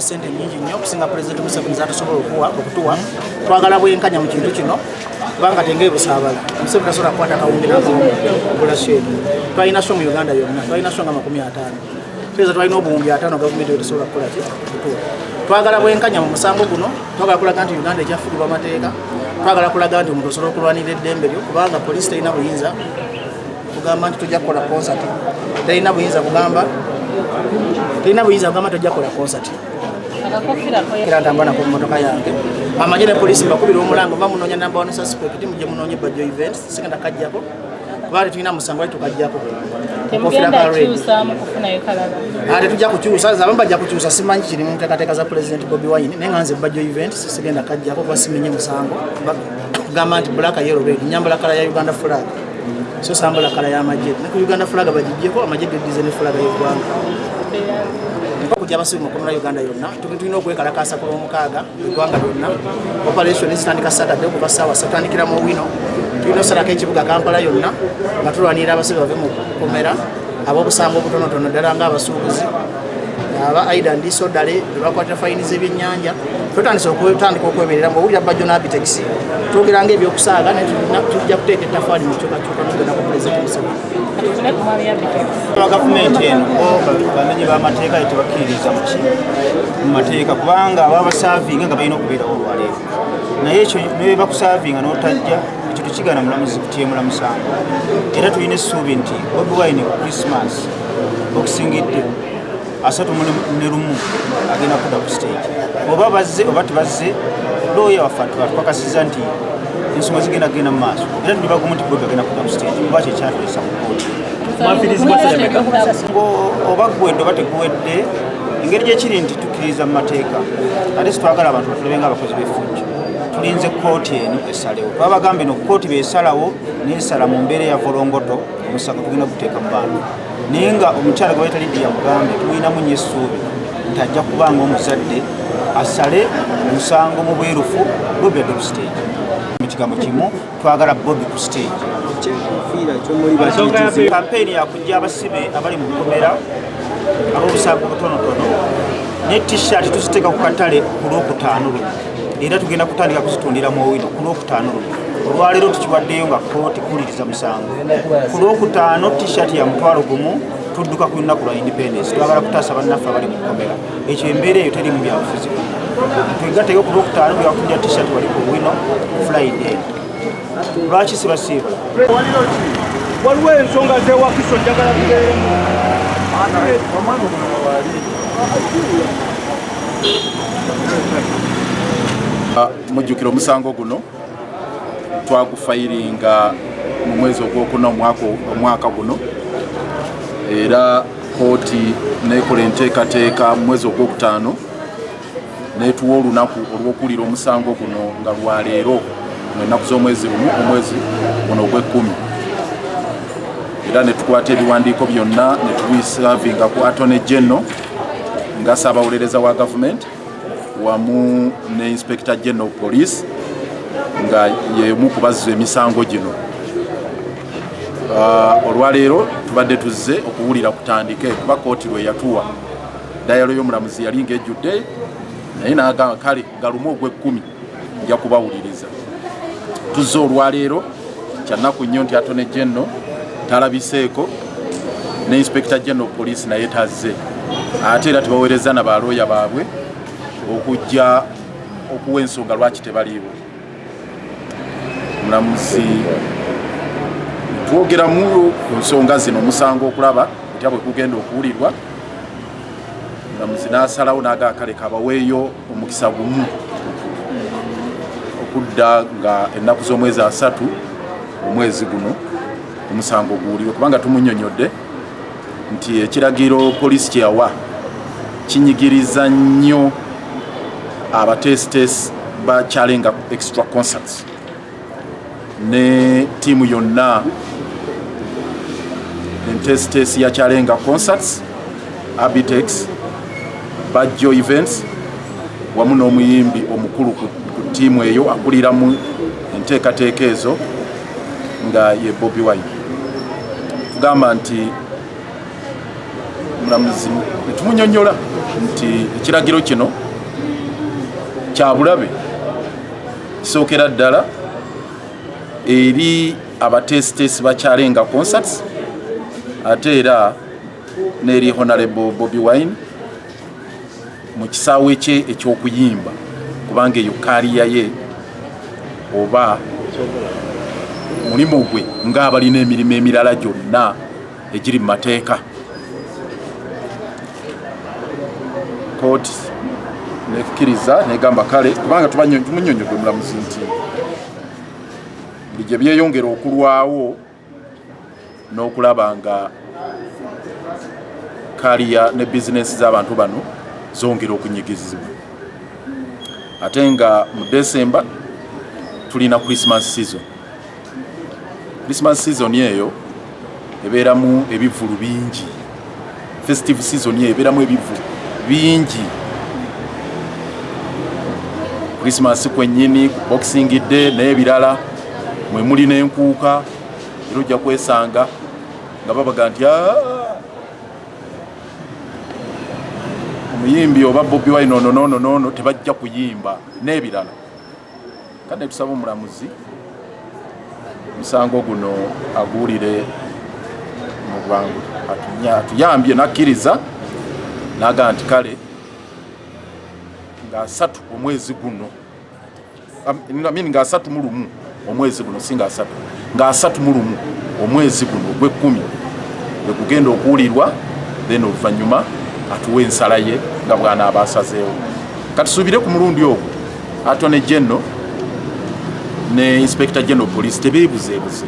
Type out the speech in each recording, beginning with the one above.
sente nyingi nnyo okusinga pulezidenti museveni zatusobola okuwa okutuwa twagala bwenkanya mu kintu kino kubanga tenge ebusaabala museveni tasobola kukwata kawumbi nagula sheedu twalina sho mu uganda yonna twalina sho nga makumi ataano tweza twalina obuwumbi ataano gavumenti etesobola kukola ki okutuwa twagala bwenkanya mu musango guno twagala kulaga nti uganda ekyafugibwa amateeka twagala kulaga nti omuntu osobola okulwanirira eddembe lyo kubanga poliisi terina buyinza kugamba nti tujja kukola konsati terina buyinza kugamba terina buyinza kugamba tujja kukola konsati era ntambula nako mumotoka yange amagye ne poliisi mbakubira omulanga oba munoonya namba one suspect mugye munoonya ebajjo events sigenda kajjako twali tulina musango ali tukajjako ate tujja kukyusa abamu bajja kukyusa simanyi kiri mu nteekateeka za pulezidenti bobi wine naye nga nze bajjo events sigenda kajjako kuba simenye musango gamba nti black yellow red nyambala kala ya uganda flag so sambala kala ya amagye ne ku uganda flag bagijjeko amagye gedize ne flag y'eggwanga mpa kujja abasiru mu komera uganda yonna tulina okwekalakaasa ku lwomukaaga eggwanga lyonna operation zitandika saturday okuva saawa satandikira mu wino tulina osalako ekibuga kampala yonna nga tulwanirira abasibe bave mu komera ab'obusango obutonotono ddala ng'abasuubuzi aba aida ndiso ddale ebakwatira fayini z'ebyennyanja twetandisa okutandika okwemerera mu owulira bajjo n'abitexi twogera nga ebyokusaaga netujja kuteeka ettafaali mu kyukakyuka nogenda ku pulezidenti museveni gavumenti eno bamenyi bamateeka tebakkiririza muki mu mateeka kubanga ababasavinga nga balina okubeerawo olwaleero naye ekyo nebebakusavinga notajja ekyo tekigana mulamuzi kutyemula musango era tulina essuubi nti bobi wine ku krismas okusingidde asatu ne lumu agenda kuda ku stage oba bazze oba tebazze looya waffe atupakasiza nti ensonga zigenda kugenda mu maaso era nibaguma nti bobi agenda kuda ku stage oba kyekyatulesa mu kooti oba guwedde oba teguwedde engeri gyekiri nti tukkiriza mu mateeka ate sitwagala abantu batulabe nga abakozi b'efujjo tulinze kooti eno esalewo twabagambye no kooti besalawo nesala mu mbeera ya volongoto omusango tugenda guteeka mu bantu naye nga omukyala gwe bayitali ddiya mugambe tumulinamu nyo essuubi nti ajja kuba nga omuzadde asale omusango mu bwerufu bobi adde ku siteegi mu kigambo kimu twagala bobi ku siteegi kampeyini yakujja abasibe abali mu bukomera ab'obusango butonotono ne t-shirt tuziteeka ku katale ku lwokutaano luno era tugenda kutandika kuzitundira mu owino ku lwokutaano luno olwaleero tukiwaddeyo nga kooti kuwuliriza musango ku lwokutaano tishati ya mutwalo gumu tudduka ku lunaku lwa independence twagala kutaasa bannaffe abali mu kkomera ekyo embeera eyo teri mu byabufuzi twegateyo ku lwokutaano bwewakundira tishati wali ku wino friday lwaki sibasiibula waliwo ensonga zewakiso njagala kubeeremu Ah, mujjukira omusango guno twagufayiringa mu mwezi ogwokuna omwaka guno era kooti nekola enteekateeka mu mwezi ogwokutaano netuwa olunaku olwokuwulira omusango guno nga lwaleero mu ennaku z'omwezi lumu omwezi guno ogwekkumi era netukwata ebiwandiiko byonna netubisaavinga ku atone genno nga ssaabawolereza wa gavumenti wamu ne inspector general police nga yemu kubazza emisango gino ah, olwaleero tubadde tuzze okuwulira kutandike kuba kooti lwe yatuwa dayalo y'omulamuzi yali ngaejjudde naye nagamba kale galumu ogw'ekkumi nja kubawuliriza tuzze olwaleero kyannaku nnyo nti atone genno talabiseeko ne inspekita genno poliisi naye tazze ate era tebaweereza na balooya baabwe okujja okuwa ensonga lwaki tebaliibwe mulamuzi twogera mu ku nsonga zino omusango okulaba otya bwe gugenda okuwulirwa mulamuzi n'asalawo n'aga kale kabaweeyo omukisa gumu okudda nga ennaku z'omwezi asatu omwezi guno omusango guwulirwe kubanga tumunyonyodde nti ekiragiro poliisi kye yawa kinyigiriza nnyo abateesiteesi ba chalenga extra concerts ne tiimu yonna enteesiteesi ya chalenga concerts abitex bajjo events wamu n'omuyimbi omukulu ku ttiimu eyo akuliramu enteekateeka ezo nga ye Bobi Wine tugamba nti mulamuzi netumunyonyola nti ekiragiro kino kyabulabe kisookera ddala eri abateesiteesi bakyalenga concerts ate era n'eri honalebo bobi wine mu kisaawe kye eky'okuyimba kubanga eyo kaaliya ye oba mulimu gwe ng'abalina emirimu emirala gyonna egiri mu mateeka kooti nekkiriza negamba kale kubanga tumunyonyodde omulamuzi nti buli gye byeyongera okulwawo n'okulaba nga kaliya ne bizinensi z'abantu bano zongera okunyigizibwa ate nga mu desemba tulina christmas season christmas season eyo ebeeramu ebivvulu bingi festive season eberamu ebivu bingi christmas kwenyini boxing day naye ebirala mwe muli nenkuuka era ojja kwesanga nga babaga nti ah, omuyimbi oba bobi wine ono nono nono tebajja kuyimba n'ebirala Kade tusaba omulamuzi musango guno aguwulire mu bwangu atuyambye nakkiriza naga nti kale nga asatu omwezi guno min nga asatu mu lumu omwezi guno si nga asatu nga asatu mu lumu omwezi guno ogwekkumi egugenda okuwulirwa then oluvannyuma atuwa ensala ye nga bwanaaba asazeewo katusuubire ku mulundi ogwo Attorney General ne Inspector General Police tebeebuzeebuze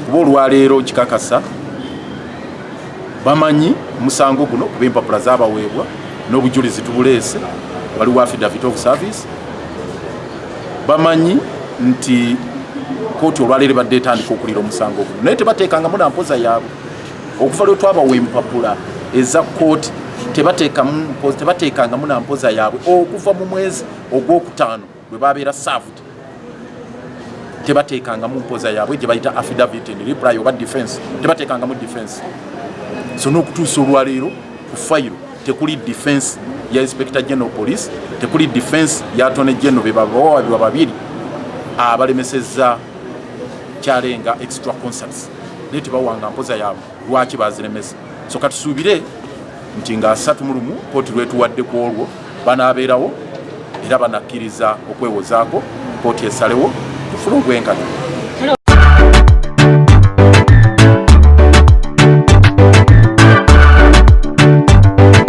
kuba olwaleero nkikakasa bamanyi omusango guno kuba empapula zabaweebwa n'obujulizi tubuleese waliwo affidavit of service bamanyi nti kooti olwaleero ebadde etandika okulira omusango guno naye tebateekangamu na mpoza yaabwe okuva lwe twabawa empapula eza kkooti tebateekangamu na mpoza yaabwe okuva mu mwezi ogwokutaano bwe babeera saft tebateekangamu mpoza yaabwe gye bayita affidavit and reply oba defense tebateekangamu defense so n'okutuusa olwaleero ku fayiro tekuli defense ya inspector general police tekuli defense ya attorney general be babawabirwa babiri abalemesezza kyalenga extra concerts naye tebawanga mpoza yaabwe lwaki baziremesa so katusuubire nti nga asatu mu lumu kooti lwetuwadde ku olwo banaabeerawo era banakkiriza okwewozaako kooti esalewo tufune obwenkanya Thank you.